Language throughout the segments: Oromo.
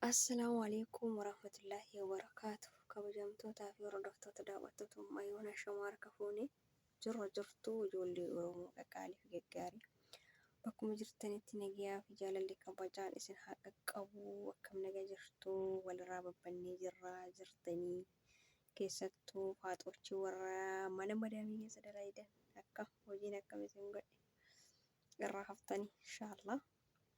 Assalaamu Aleeykum Warahmatullaahi Wabarakaatuh Kabajamtootaa fi hordoftoota daawwattoota Ummaa Yoona Shamaa harka fuune jirra jirtu ijoollee Oromoo qaqaalii fi gaggaarii bakkuma jirtanitti nagayaa fi jaalalli kabajaan isin haa qaqqabu akkam naga jirtu walirraa babbannee jirra jirtanii keessattuu faaxoochi warra mana madaamii keessa dalaydan akka hojiin akkam isin godhe irraa haftanii inshaallah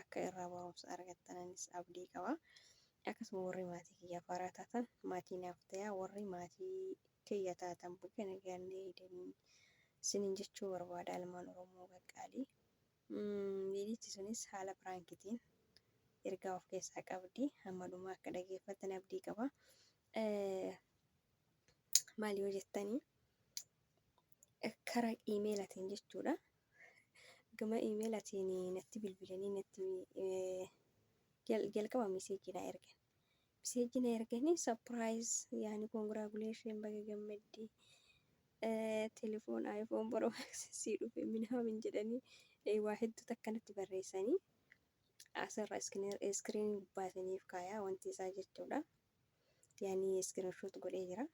akka irraa barumsa argattananis abdii qaba. Akkasuma warri maatii kiyyaa faaraa taatan maatii naaf ta'aa warri maatii kiyya taatan baga nagaan deebitanii sinin jechuu barbaada ilmaan Oromoo qaqqaalii. Viidichi sunis haala piraankitiin ergaa of keessaa qabdi hamma dhumaa akka dhageeffattan abdii qaba. Maal yoo jettanii karaa iimeelatiin jechuudha. Gama email atiin natti bilbilanii natti jalqaba miseejii na ergan. Miseejii na erganii surprise yaani congratulation baga gammadde telefoon iPhone Pro Max sii dhufe minaamin jedhanii waa hedduu takka natti barreessanii asirra iskiriin gubbaa isiniif kaayaa wanti isaa jechuudha. Yaani iskiriin shoot godhee jira.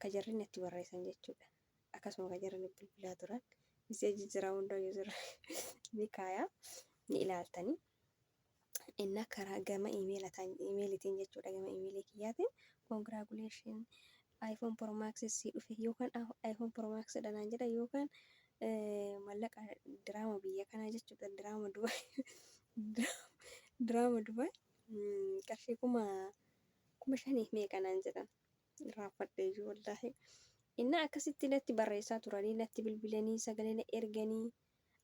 ka jarri natti barreessan jechuudha. Akkasuma ka jarri natti bilbilaa turan miseejii jira hunda yuuzirra ni kaaya ni ilaaltanii. Innaa karaa gama imeelitiin jechuudha gama imeelii kiyyaatiin congratulation iPhone Pro Max si dhufe yookaan iPhone Pro Max dhanaan jedha yookaan mallaqa diraama biyya kanaa jechuudha diraama Dubaay diraama Dubaay qarshii kuma kuma shaniif meeqa naan jedhan irraanfadheeyyuu wallaahi innaa akkasitti natti barreessaa turanii natti bilbilanii sagalee na erganii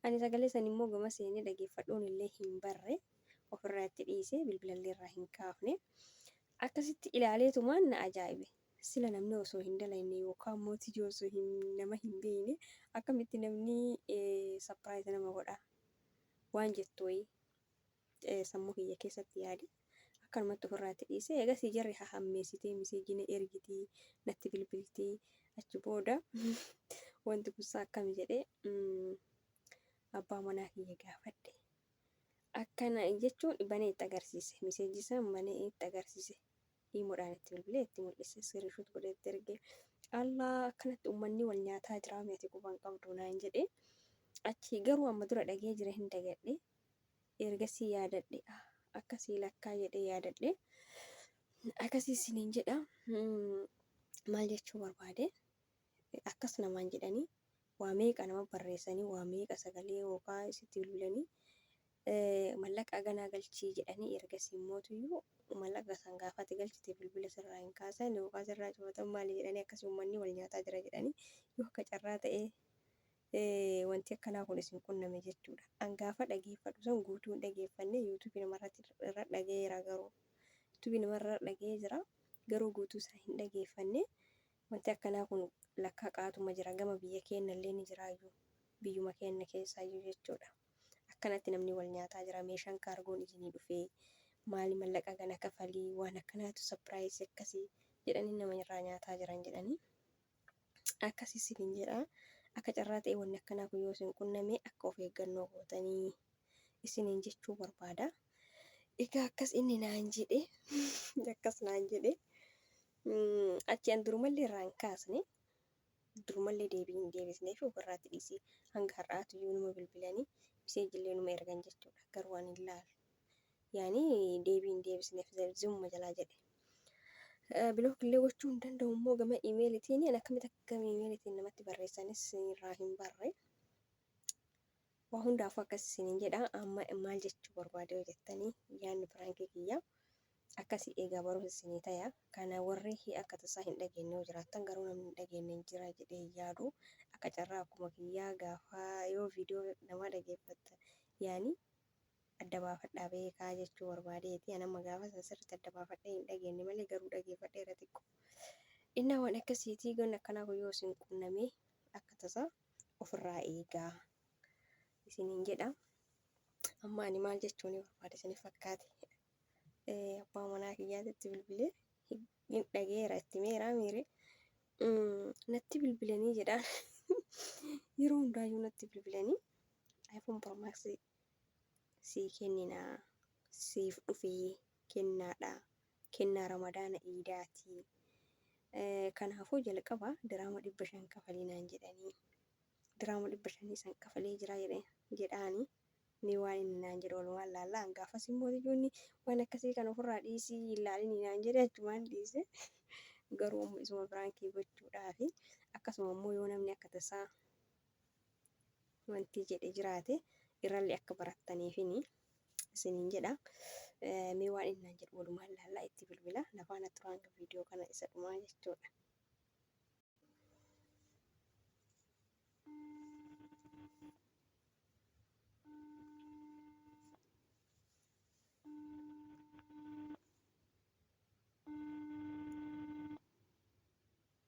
ani sagalee san immoo gama seenee dhageeffadhuun illee hin barre ofirraa itti dhiise bilbilallee irraa hin kaafne akkasitti ilaaleetumaan na ajaa'ibe sila namni osoo hin dalayne yookaan immoo tijoo osoo hin nama hin beeyne akkamitti namni sapiraayizi nama godha waan jettu wayii eh, sammuu kiyya keessatti yaade akkanumatti ofirraatti dhiise eegasii jarri hahammeessitee miseejii na ergitii natti bilbiltii achi booda wanti kunsaa akkami jedhee mm, abbaa manaa kiyya gaafadhe akkana jechuun banee itti agarsiise miseejii san banee itti agarsiise dhiimoodhaan itti bilbilee itti mul'ise siriishuut godhee itti erge allah akkanatti uummanni wal nyaataa jiraa meeti quban qabdu naan jedhee achi garuu amma dura dhagee jira hin dagadhe Ergasii yaadadhe, Akkasii lakkaa jedhee yaadadhe. Akkasii isiniin jedha. Maal jechuu barbaade? Akkas namaan jedhanii waa meeqa nama barreessanii waa meeqa sagalee yookaan isitti bilbilanii mallaqa ganaa galchii jedhanii ergasii immootuyyuu mallaqa san gaafate galchite bilbila sirraa hin kaasan yookaan sirraa cufatan maali jedhanii akkasii uummanni wal nyaataa jira jedhanii yoo akka carraa ta'ee wanti akkanaa kun isin qunname jechuudha. An gaafa dhageeffadhu san guutuu hin dhageeffanne yuutuubii namarratti irra dhagayeera garuu yuutuubii namarra dhagayee jira garuu guutuu isaa hin dhageeffanne wanti akkanaa kun lakkaa qaatuma jira gama biyya keennallee ni jiraayyuu biyyuma keenna keessaayyuu jechuudha. Akkanatti namni wal nyaataa jira meeshaan kaargoon isinii dhufee maali mallaqa gana kafalii waan akkanaatu sapiraayisii akkasii jedhanii nama irraa nyaataa jiran jedhanii. Akkasi isiniin jedha. Akka carraa ta'e wanni akkanaa kun yoo isin qunname akka of eeggannoo gootanii isiniin jechuu barbaada. Egaa akkas inni naan jedhe akkas naan jedhe achi an durumallee irraa hin kaasne durumallee deebii hin deebisnee fi ofirraatti dhiisee hanga har'aatu iyyuu numa bilbilanii miseejillee numa ergan jechuudha garuu ani hin laalu. yaani deebii hin deebisneef zam- zimuma jalaa jedhe Eh, bilook illee gochuu hin danda'u immoo gama imeelitiin ani akkamitti akka gama imeelitiin namatti barreessanis irraa hin barre waa hundaafuu akkas isiniin jedha amma maal jechuu barbaade yoo jettanii yaadni piraankii kiyya akkasii eegaa barumsa isinii taya kana warri hi- akka tasaa hin dhageenye yoo jiraattan garuu namni hin dhageenye hin jira jedhee hin yaadu akka carraa akkuma kiyyaa gaafa yoo viidiyoo namaa dhageeffatta yaani adda baafadhaa beekaa jechuu barbaadeeti. An amma gaafa san sirriitti adda baafadhee hin dhageenne malee garuu dhageeffadheera xiqqo. Dhinnaa waan akkasiiti goonni akkanaa kun yoo isin qunname akka tasaa ofirraa eegaa isiniin jedha. Amma ani maal jechuun barbaade isiniif fakkaate abbaa manaa kiyyaatitti bilbilee hin dhageera itti meeraa miire natti bilbilanii jedhaan yeroo hundaayyuu natti bilbilanii iPhone Pro Max sii kennina siif dhufe kennaadha kennaa ramadaana iidaati kanaafuu jalqaba diraama dhibba shan kafalii naan jedhanii diraama dhibba shanii san kafalee jira jedhe jedhaani mee waan inni naan jedhu walumaan laallaa hangaafas immoo ijoonni waan akkasii kan ofirraa dhiisii hin laalinii naan jedhe achumaan dhiise garuu amma isuma biraankii gochuudhaafi akkasuma immoo yoo namni akka tasaa wanti jedhe jiraate irrallee akka barattaniifini isiniin jedha. Eh, Mee waan innaan jedhu walumaan ilaallaa itti bilbila. Na faana tura hanga viidiyoo kana isa dhumaa jechuudha.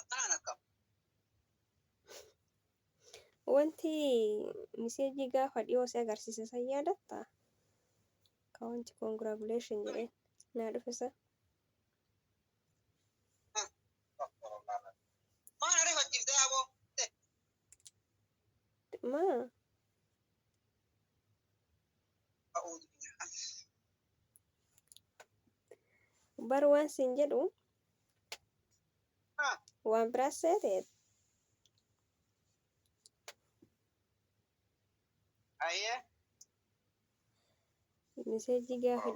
Akkanaan akkam? Wanti miseejii gaafa dhiyoo si agarsiise san yaadattaa? Ka wanti congratulation jedhee naa dhufe san. Maal ariifachiifte aboo? Maa? Bar waan siin jedhu waan biraas seete Ayyee. miseejii gaafa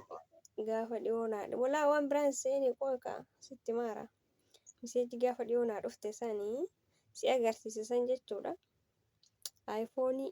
gaafa dhiyoo naa walaa waan biraan seeni qooqa sitti maara miseejii gaafa dhiyoo naa dhufte sanii si agarsiise san jechuudha aayifoonii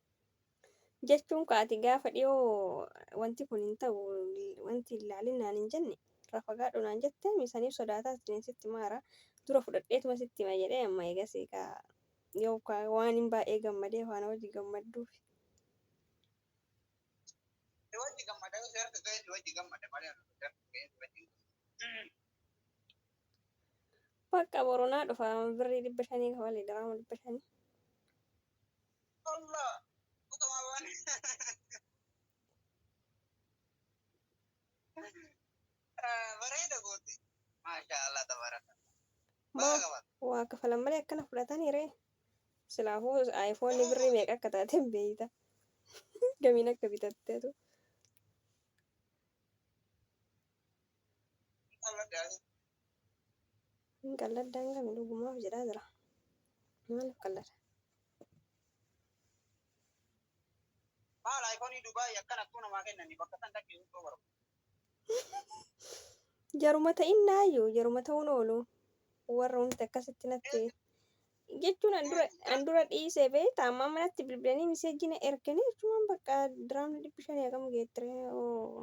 jechuun ka ati gaafa dhiyoo wanti kun hin ta'u wanti hin laalin naan hin jenne irraa fagaadhu naan jette misaniif sodaataa siniin sitti maara dura fudhadheetuma sitti hima jedhee amma eegasii ka yoo ka waan hin baay'ee gammadee faana wajji gammadduuf. Si wajji gammada yoo si harka ga'e si wajji gammada malee ana si harka ga'e si wajji Bakka boronaa dhufa birrii dhibba shanii kafalee daraama dhibba shanii. Allah utamawan. Bareeda goote. Maasha Allah tabaraka. Baga qaban. Waa kafalan malee akkana fudhatanii ree. Silaafuu iPhone birrii meeqa akka taate hin beeyta. Gamiin akka bitatteetu. Allah gaafii. Hin qalladdaa hin qabne dhugumaaf jedhaa jira. Maaliif qallada? Maal iPhone Dubai akkan attuu namaa kennani bakka san dhaqee hundoo barba. Jaruma ta'in naayyu jaruma ta'uun oolu warra wanti akkasitti natti jechuun an dura an dura dhiisee beekta amma amma natti bilbilanii miseejjii na erganii jechuun bakka diraamni dhibbi shanii hagam geettire oo.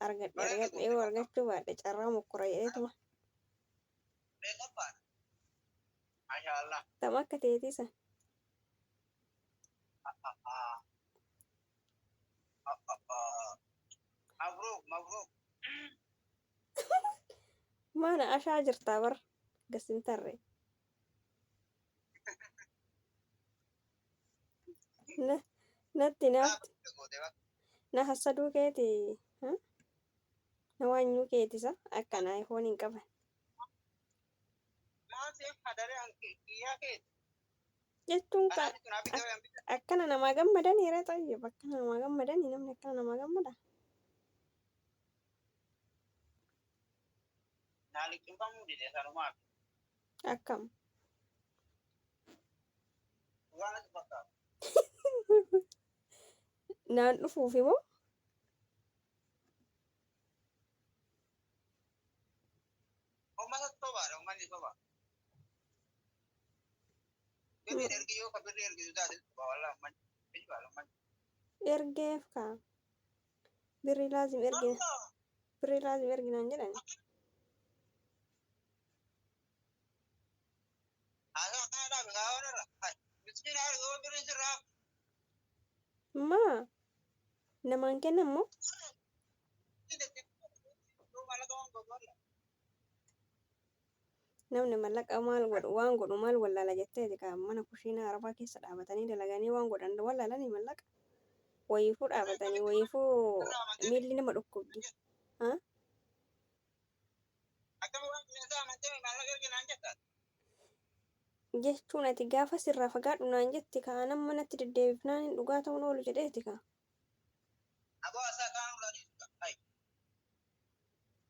argadhe Bara argadhe yoo tokko argachuu baadhe carraa mokkora jedheetuma Mee qophaadha. Mashaa Allah. tam akka teetii san Mabruuk mabruuk. maana ashaa jirtaa bar gassintarre Na- Natti naafti na hassaduu keeti ha? na waanyuu keetisa akkana iPhone hin qaban jechuun ka ak- akkana namaa gammadan hira xayyib akkana namaa gammadan namni akkana namaa gammada Akkam. Naan dhufuufi moo? Ergeef kaa. Birri laazim ergina. Birri laazim erginaan jedhan. Maa namaan kenna immoo Namni mallaqa maal godhu waan godhu maal wallaala jetteeti ka mana kushiinaa arabaa keessa dhaabatanii dalaganii waan godhan wallaalanii mallaqa wayiifuu dhaabatanii wayiifuu miilli nama dhukkubdi. Ha? jechuun ati gaafa sirraa fagaadhu naan jetti ka anan manatti deddeebifnaan hin dhugaa ta'uun oolu jedheeti ka.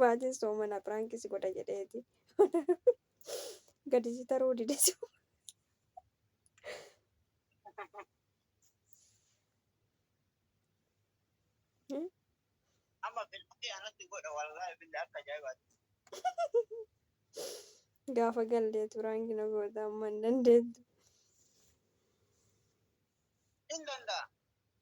Baatiin soomana prank si godha jedheeti. Gadi si taruu dide si. Amma bilbilli anatti godha wallaahi billi akka ajaa'ibaati. Gaafa galdeetu prank na goota amma hin dandeettu. Hin danda'a.